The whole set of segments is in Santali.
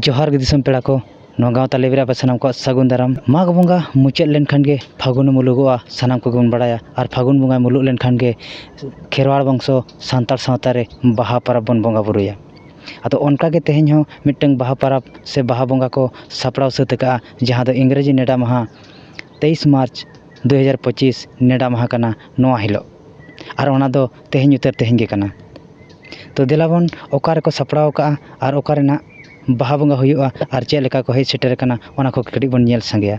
ᱡᱚᱦᱟᱨ ᱜᱮ ᱫᱤᱥᱚᱢ ᱯᱮᱲᱟ ᱠᱚ ᱱᱚᱣᱟ ᱜᱟᱶᱛᱟ ᱞᱮᱵᱮᱞ ᱨᱮ ᱟᱯᱮ ᱥᱟᱱᱟᱢ ᱠᱚᱣᱟᱜ ᱥᱟᱹᱜᱩᱱ ᱫᱟᱨᱟᱢ ᱢᱟᱜᱽ ᱵᱚᱸᱜᱟ ᱢᱩᱪᱟᱹᱫ ᱞᱮᱱᱠᱷᱟᱱ ᱜᱮ ᱯᱷᱟᱹᱜᱩᱱ ᱢᱩᱞᱩᱜᱚᱜᱼᱟ ᱥᱟᱱᱟᱢ ᱠᱚᱜᱮ ᱵᱚᱱ ᱵᱟᱲᱟᱭᱟ ᱟᱨ ᱯᱷᱟᱹᱜᱩᱱ ᱵᱚᱸᱜᱟ ᱢᱩᱞᱩᱜ ᱞᱮᱱᱠᱷᱟᱱ ᱜᱮ ᱠᱷᱮᱨᱣᱟᱲ ᱵᱚᱝᱥᱚ ᱥᱟᱱᱛᱟᱲ ᱥᱟᱶᱛᱟ ᱨᱮ ᱵᱟᱦᱟ ᱯᱚᱨᱚᱵᱽ ᱵᱚᱱ ᱵᱚᱸᱜᱟ ᱵᱳᱨᱳᱭᱟ ᱟᱫᱚ ᱚᱱᱠᱟ ᱜᱮ ᱛᱮᱦᱮᱧ ᱦᱚᱸ ᱢᱤᱫᱴᱟᱹᱝ ᱵᱟᱦᱟ ᱯᱚᱨᱚᱵᱽ ᱥᱮ ᱵᱟᱦᱟ ᱵᱚᱸᱜᱟ ᱠᱚ ᱥᱟᱯᱲᱟᱣ ᱥᱟᱹᱛ ᱟᱠᱟᱜᱼᱟ ᱡᱟᱦᱟᱸ ᱫᱚ ᱤᱝᱨᱮᱡᱤ ᱱᱮᱰᱟ ᱢᱟᱦᱟ ᱛᱮᱭᱤᱥ ᱢᱟᱨᱪ ᱫᱩ ᱦᱟᱡᱟᱨ ᱯᱚᱸᱪᱤᱥ ᱱᱮᱰᱟ ᱢᱟᱦᱟ ᱠᱟᱱᱟ ᱱᱚᱣᱟ ᱦᱤᱞᱳᱜ ᱟᱨ ᱚᱱᱟ ᱫᱚ ᱛᱮᱦᱮᱧ ᱩᱛᱟᱹᱨ ᱛᱮᱦᱮᱧ ᱜᱮ ᱠᱟᱱᱟ ᱛᱚ ᱫᱮᱞᱟ ᱵᱚᱱ ᱚᱠᱟ ᱨᱮᱠᱚ ᱥᱟᱯᱲᱟᱣ ᱠᱟᱜᱼᱟ ᱟᱨ ᱚᱠᱟ ᱨᱮᱱᱟᱜ ᱵᱟᱦᱟ ᱵᱚᱸᱜᱟ ᱦᱩᱭᱩᱜᱼᱟ ᱟᱨ ᱪᱮᱫ ᱞᱮᱠᱟ ᱠᱚ ᱦᱮᱡ ᱥᱮᱴᱮᱨ ᱠᱟᱱᱟ ᱚᱱᱟ ᱠᱚ ᱠᱟᱹᱴᱤᱡ ᱵᱚᱱ ᱧᱮᱞ ᱥᱟᱸᱜᱮᱭᱟ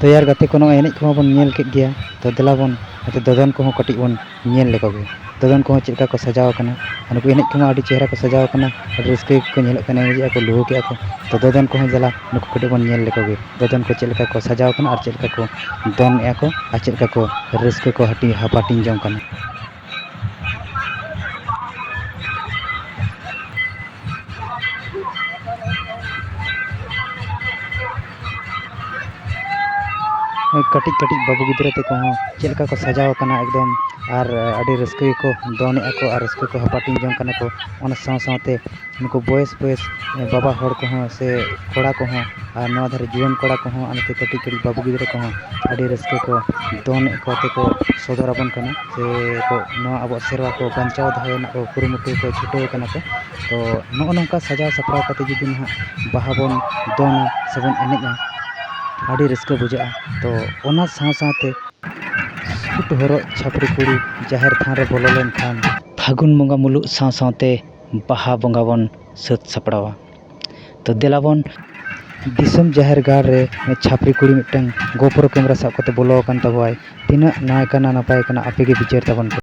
ᱛᱚᱭᱟᱨ ᱜᱟᱛᱮ ᱠᱚ ᱱᱚᱜᱼᱚᱭ ᱮᱱᱮᱡ ᱠᱚᱦᱚᱸ ᱵᱚᱱ ᱧᱮᱞ ᱠᱮᱫ ᱜᱮᱭᱟ ᱛᱚ ᱫᱮᱞᱟ ᱵᱚᱱ ᱟᱫᱚ ᱫᱚᱫᱚᱱ ᱠᱚᱦᱚᱸ ᱠᱟᱹᱴᱤᱡ ᱵᱚᱱ ᱧᱮᱞ ᱞᱮᱠᱚ ᱜᱮ ᱫᱚᱫᱚᱱ ᱠᱚᱦᱚᱸ ᱪᱮᱫ ᱞᱮᱠᱟ ᱠᱚ ᱥᱟᱡᱟᱣ ᱟᱠᱟᱱᱟ ᱟᱨ ᱱᱩᱠᱩ ᱮᱱᱮᱡ ᱠᱚᱢᱟ ᱟᱹᱰᱤ ᱪᱮᱦᱨᱟ ᱠᱚ ᱥᱟᱡᱟᱣ ᱟᱠᱟᱱᱟ ᱟᱹᱰᱤ ᱨᱟᱹᱥᱠᱟᱹ ᱜᱮᱠᱚ ᱧᱮᱞᱚᱜ ᱠᱟᱱᱟ ᱮᱱᱮᱡ ᱮᱫᱟ ᱠᱚ ᱞᱩᱦᱩᱠ ᱮᱫᱟ ᱠᱚ ᱛᱚ ᱫᱚᱫᱚᱱ ᱠᱚᱦᱚᱸ ᱫᱮᱞᱟ ᱱᱩᱠᱩ ᱠᱟᱹᱴᱤᱡ ᱵᱚᱱ ᱧᱮᱞ ᱞᱮᱠᱚ ᱜᱮ ᱫᱚᱫᱚᱱ ᱠᱚ ᱪᱮᱫ ᱞᱮᱠᱟ ᱠᱚ ᱥᱟᱡᱟᱣ ᱟᱠᱟᱱᱟ ᱟᱨ ᱪᱮᱫ ᱞᱮᱠᱟ ᱠᱚ ᱫᱚᱱ ᱮᱫᱟ ᱠᱚ ᱟᱨ ᱪᱮᱫ ᱞᱮᱠᱟ ᱠᱚ ᱨᱟᱹᱥᱠᱟᱹ ᱠᱚ ᱦᱟᱹᱴᱤᱧ ᱦᱟᱯᱟᱴᱤᱧ ᱡᱚᱝ ᱠᱟᱱᱟ ᱠᱟᱹᱴᱤᱡ ᱠᱟᱹᱴᱤᱡ ᱵᱟᱹᱵᱩ ᱜᱤᱫᱽᱨᱟᱹ ᱛᱟᱠᱚ ᱦᱚᱸ ᱪᱮᱫ ᱞᱮᱠᱟ ᱠᱚ ᱥᱟᱡᱟᱣ ᱠᱟᱱᱟ ᱮᱠᱫᱚᱢ ᱟᱨ ᱟᱹᱰᱤ ᱨᱟᱹᱥᱠᱟᱹ ᱜᱮᱠᱚ ᱫᱚᱱᱮᱜᱼᱟ ᱠᱚ ᱟᱨ ᱨᱟᱹᱥᱠᱟᱹ ᱠᱚ ᱦᱟᱯᱟᱴᱤᱧ ᱡᱚᱝ ᱠᱟᱱᱟ ᱠᱚ ᱚᱱᱟ ᱥᱟᱶ ᱥᱟᱶᱛᱮ ᱱᱩᱠᱩ ᱵᱚᱭᱮᱥ ᱵᱚᱭᱮᱥ ᱵᱟᱵᱟ ᱦᱚᱲ ᱠᱚᱦᱚᱸ ᱥᱮ ᱠᱚᱲᱟ ᱠᱚᱦᱚᱸ ᱟᱨ ᱱᱚᱣᱟ ᱫᱷᱟᱨᱮ ᱡᱩᱣᱟᱹᱱ ᱠᱚᱲᱟ ᱠᱚᱦᱚᱸ ᱟᱨ ᱱᱚᱛᱮ ᱠᱟᱹᱴᱤᱡ ᱠᱟᱹᱴᱤᱡ ᱵᱟᱹᱵᱩ ᱜᱤᱫᱽᱨᱟᱹ ᱠᱚᱦᱚᱸ ᱟᱹᱰᱤ ᱨᱟᱹᱥᱠᱟᱹ ᱠᱚ ᱫᱚᱝ ᱮᱱᱮᱡ ᱠᱚ ᱛᱮᱠᱚ ᱥᱚᱫᱚᱨ ᱟᱵᱚᱱ ᱠᱟᱱᱟ ᱥᱮ ᱠᱚ ᱱᱚᱣᱟ ᱟᱵᱚᱣᱟᱜ ᱥᱮᱨᱣᱟ ᱠᱚ ᱵᱟᱧᱪᱟᱣ ᱫᱚᱦᱚ ᱨᱮᱱᱟᱜ ᱠᱚ ᱠᱩᱨᱩᱢᱩᱴᱩ ᱠᱚ ᱪᱷᱩᱴᱟᱹᱣ ᱠᱟᱱᱟ ᱠᱚ ᱛᱚ ᱱᱚᱜᱼᱚ ᱱᱚᱝᱠᱟ ᱥᱟᱡᱟᱣ ᱥᱟᱯᱲᱟᱣ ᱠᱟᱛᱮᱫ ᱡᱩᱫᱤ ᱱᱟᱦᱟᱜ ᱵᱟᱦᱟ ᱵᱚᱱ ᱫᱚᱱᱟ ᱥᱮ ᱵᱚᱱ ᱮᱱᱮᱡᱼᱟ ᱟᱹᱰᱤ ᱨᱟᱹᱥᱠᱟᱹ ᱵᱩᱡᱷᱟᱹᱜᱼᱟ ᱛᱚ ᱚᱱᱟ ᱥᱟᱶ ᱥᱟᱶᱛᱮ ᱥᱩᱴ ᱦᱚᱨᱚᱜ ᱪᱷᱟᱹᱯᱨᱤ ᱠᱩᱲᱤ ᱡᱟᱦᱮᱨ ᱛᱷᱟᱱ ᱨᱮ ᱵᱚᱞᱚ ᱞᱮᱱᱠᱷᱟᱱ ᱯᱷᱟᱹᱜᱩᱱ ᱵᱚᱸᱜᱟ ᱢᱩᱞᱩᱜ ᱥᱟᱶ ᱥᱟᱶᱛᱮ ᱵᱟᱦᱟ ᱵᱚᱸᱜᱟ ᱵᱚᱱ ᱥᱟᱹᱛ ᱥᱟᱯᱲᱟᱣᱟ ᱛᱚ ᱫᱮᱞᱟ ᱵᱚᱱ ᱫᱤᱥᱚᱢ ᱡᱟᱦᱮᱨ ᱜᱟᱲ ᱨᱮ ᱪᱷᱟᱯᱨᱤ ᱠᱩᱲᱤ ᱢᱤᱫᱴᱟᱝ ᱜᱳᱯᱨᱳ ᱠᱮᱢᱮᱨᱟ ᱥᱟᱵ ᱠᱟᱛᱮᱫ ᱵᱚᱞᱚ ᱟᱠᱟᱱ ᱛᱟᱵᱚᱣᱟᱭ ᱛᱤᱱᱟᱹᱜ ᱱᱟᱭ ᱠᱟᱱᱟ ᱱᱟᱯᱟᱭ ᱠᱟᱱᱟ ᱟᱯᱮᱜᱮ ᱵᱤᱪᱟᱹᱨ ᱛᱟᱵᱚᱱ ᱯᱮ